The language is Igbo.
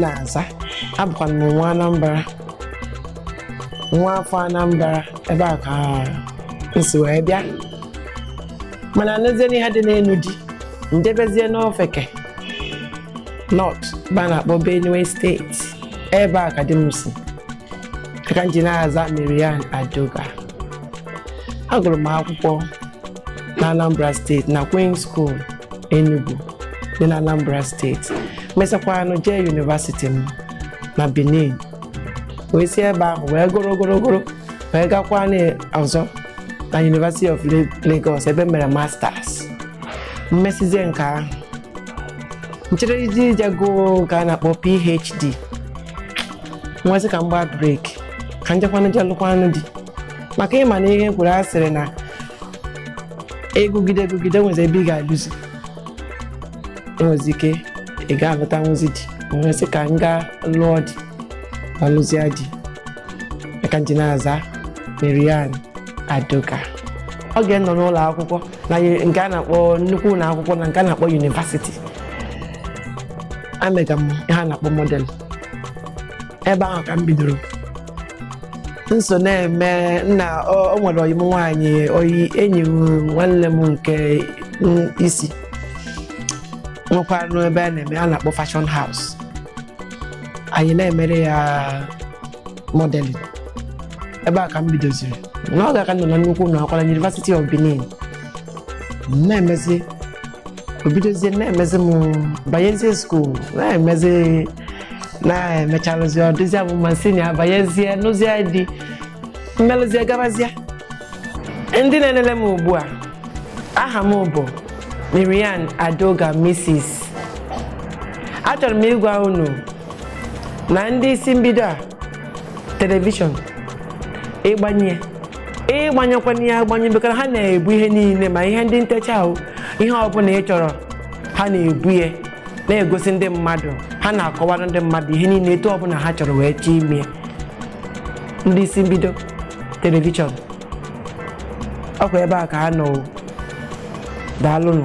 na-aza abụkwa m nwa Anambra nwa afọ Anambra ebe a ka nsi wee bịa mana n'ezie n'ihe dị n'ịnụ di njebezie n'ofe ke North ebe a na-akpọ Benue steeti ebe a ka di m si aka nji na-aza Marian Adoga agụrụ m akwụkwọ na Anambra steeti na Queen School Enugu dị na Anambra steeti mesakwanụ jee yunivasiti m na Benin wee si ebe ahụ wee gụrụ gụrụ wee gakwa ọzọ na University of Lagos ebe m mere masters mmesịzie nke ahụ nchere iji ije gụọ nke a na-akpọ PhD nwee sị ka m gbaa break ka njekwanụ je lụkwanụ di maka ị ma na ihe kwuru a sịrị na a gụgide a gụgide enwezi ebe ị ga-alụzi enwezi ike ị ga-alụta nwezi di nwee sị ka m gaa lụọ di ma lụzie di aka nji na-aza Marian Adoga oge nnọ n'ụlọ akwụkwọ na nke a na-akpọ nnukwu ụlọ akwụkwọ na nke a na-akpọ yunivasiti emega m ihe a na-akpọ model ebe ahụ ka m bidoro nso na-eme na o nwere ọyị m nwaanyị ọyị enyi nwanne m nke isi nwekwanụ ebe a na-eme a na-akpọ fashion house anyị na-emere ya modeling ebe a ka m bidoziri n'oge a ka nọ na nnukwu ụlọ akwụkwọ na University of Benin na-emezi obidozie na-emezi m banyezie skuul na-emezi na-emecharụzi ọ dịzị abụ ma nsị na abanyezie nụzie di mmelụzie gabazie ndị na-elele m ugbu a aha m bụ Marian Adoga Mrs. achọrọ m ịgwa unu na ndị isi mbido a telivishọn ị gbanye ya ị gbanyụkwana ya agbanyụ maka na ha na-ebu ihe niile ma ihe ndị ntecha ahụ ihe ọbụla ị chọrọ ha na-ebu ya na-egosi ndị mmadụ ha na-akọwara ndị mmadụ ihe niile etu ọbụla ha chọrọ wee chọọ ime ndị isi mbido telivishọn ọ kwa ebe a ka ha nọ daalụnụ